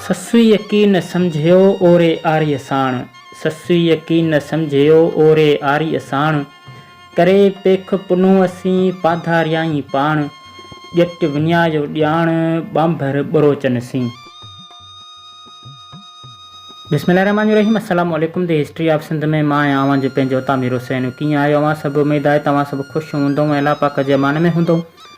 سسئيء ڪي نه سمجهيو اوري آريء ساڻ، سسئيء ڪي نه سمجهيو اوري آريء ساڻ، ڪري پيخ پنهون اسين پاڌاريائين پاڻ، ڄٽ وڃايو ڄاڻ ٻانڀر ٻروچن سين. بسم الله الرحمٰن الرحيم السلام عليڪم دي هسٽري آف سنڌ ۾ مان آهيان اوهان جو پنهنجو عطا مير حسين ڪيئن آهيو اوهان سڀ اميد آهي ته اوهان سڀ خوش هوندئون ۽ الله پاڪ جي امان ۾ هوندئون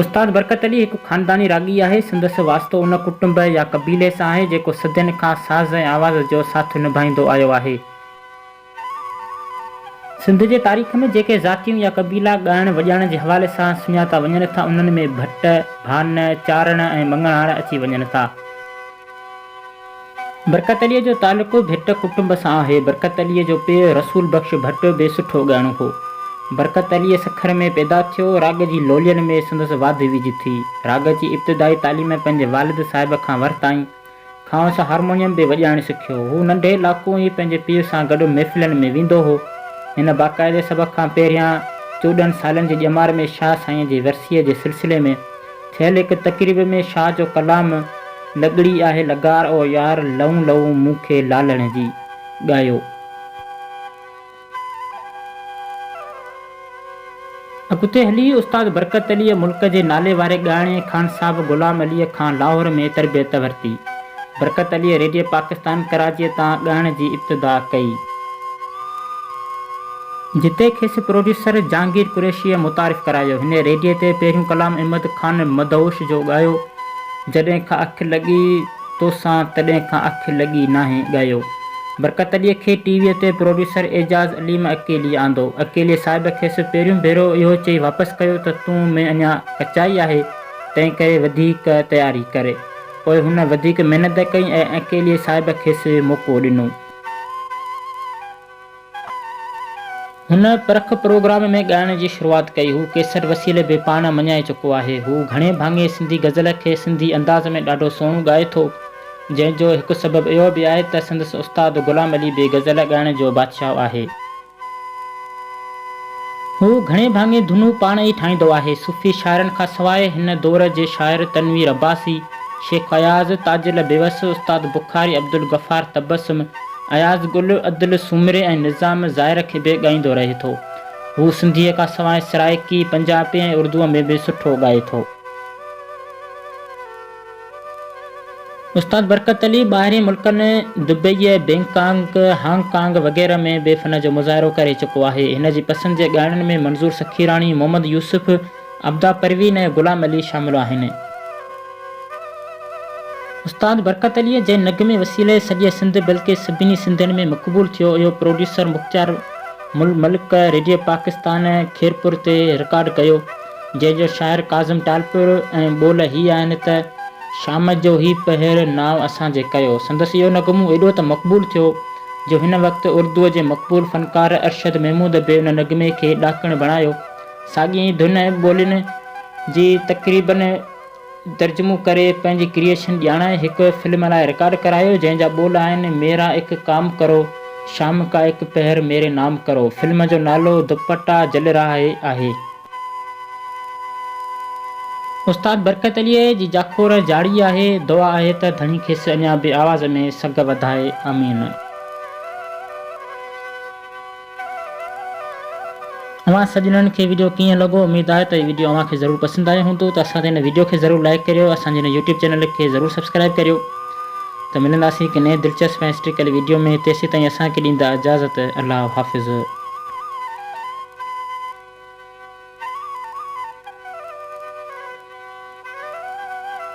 استاد برڪت علي هڪ خانداني راڳي آهي. سندس واسطو ان ڪٽنب يا قبيلي سان آهي، جيڪو صدين کان ساز ۽ آواز جو ساٿ نڀائيندو آيو آهي. سنڌ جي تاريخ ۾ جيڪي ذاتيون يا قبيلا ڳائڻ وڄائڻ جي حوالي سان سڃاتا وڃن ٿا، انهن ۾ ڀٽ، ڀان، چارڻ ۽ مڱڻهار اچي وڃن ٿا. برڪت عليء جو تعلق ڀٽ ڪٽنب سان آهي. برڪت عليء جو پيء رسول بخش ڀٽ به سٺو ڳائڻو هو. برڪت عليء سکر ۾ پيدا ٿيو. راڳ جي لولين ۾ سندس واڌ ويجهه ٿي. راڳ جي ابتدائي تعليم پنهنجي والد صاحب کان ورتائين. کانئس هارمونيم به وڄائڻ سکيو. هو ننڍي لاڪون ئي پنهنجي پيء سان گڏ محفلن ۾ ويندو هو. هن باقاعدي سڀ کان پهريان چوڏهن سالن جي ڄمار ۾ شاهه سائينء جي ورسيء جي سلسلي ۾. ٿيل هڪ تقريب ۾ شاهه جو ڪلام لڳڙي آهي لغار او يار لئون لئون مون کي لالڻ جي، ڳايو. اڳتي هلي استاد برڪت عليء ملڪ جي نالي واري ڳائڻي خان صاحب غلام عليء کان لاهور ۾ تربيت ورتي. برڪت عليء ريڊيو پاڪستان ڪراچيء تان ڳائڻ جي ابتدا ڪئي. جتي کيس پروڊيوسر جهانگير قريشيء متعارف ڪرايو. هن ريڊيي تي پهريون ڪلام احمد خان مدهوش جو ڳايو، جڏهن کان اک لڳي توسان تڏهن کان اک لڳي ناهي ڳايو. برڪت عليء کي ٽي ويء تي پروڊيوسر اعجاز عليم اڪيلي آندو. اڪيلي صاحب کيس پهريون ڀيرو اهو چئي واپس ڪيو ته تون ۾ اڃا ڪچائي آهي، تنهن ڪري وڌيڪ تياري ڪر. پوء هن وڌيڪ محنت ڪئي ۽ اڪيلي صاحب کيس موقعو ڏنو. هن پرک پروگرام ۾ ڳائڻ جي شروعات ڪئي. هو ڪيسٽ وسيلي به پاڻ مڃائي چڪو آهي. هو گهڻي ڀاڱي سنڌي غزل کي سنڌي انداز ۾ ڏاڍو سهڻو ڳائي ٿو. جنهن جو هڪ سبب اهو به آهي ته سندس استاد غلام علي به غزل ڳائڻ جو بادشاهه آهي. هو گهڻي ڀاڱي ڌنون پاڻ ئي ٺاهيندو آهي. صوفي شاعرن کان سواء هن دور جي شاعر تنوير عباسي، شيخ اياز، تاجل بيوس، استاد بخاري، عبدالغفار تبسم، اياز گل عدل سومري ۽ نظام ظاهر کي به ڳائيندو رهي ٿو. هو سنڌيء کان سواء سرائيڪي، پنجابي ۽ اردوء ۾ به سٺو ڳائي ٿو. استاد برڪت علي ٻاهرين ملڪن دبئيء، بئنڪانگ، هانگ ڪانگ وغيره ۾ به فن جو مظاهرو ڪري چڪو آهي. هن جي پسند جي ڳائڻن ۾ منظور سخيراڻي، محمد يوسف، عبدا پروين ۽ غلام علي شامل آهن. استاد برڪت عليء جنهن نغمي وسيلي سڄي سنڌ بلڪه سڀني سنڌين ۾ مقبول ٿيو اهو پروڊيوسر مختيار مل ملڪ ريڊيو پاڪستان خيرپور تي رڪارڊ ڪيو جنهن جو شاعر ڪاظم ٽالپر ۽ ٻول هي آهن ته شام جو هي پهر نانء اسان جي ڪيو سندس اهو نغمو ايڏو ته مقبول ٿيو جو هن وقت اردوء جي مقبول فنڪار ارشد محمود به ان نغمي کي ڏاڪڻ بڻايو ساڳين ئي ڌن ۽ ٻولين جي تقريبن ترجمو ڪري پنهنجي ڪريئيشن ڄاڻائي هڪ فلم لاء رڪارڊ ڪرايو جنهن جا ٻول آهن ميرا اک ڪام ڪرو شام ڪا اک پهر ميري نام ڪرو فلم جو نالو دوپٽا جل رها هي آهي. استاد برڪت عليء جي جاکوڙ جاڙي آهي دعا آهي ته ڌڻي کيس اڃا به آواز ۾ سگهه وڌائي آمين. اوهان سڄڻن کي ويڊيو ڪيئن لڳو اميد آهي ته هي ويڊيو اوهان کي ضرور پسند آيو هوندو ته اسان تي هن ويڊيو کي ضرور لائيڪ ڪريو اسان جي هن يوٽيوب چينل کي ضرور سبسڪرائيب ڪريو ته ملنداسين هڪ نئين دلچسپ ۽ هسٽريڪل ويڊيو ۾ تيسيتائين اسان کي ڏيندا اجازت الله حافظ.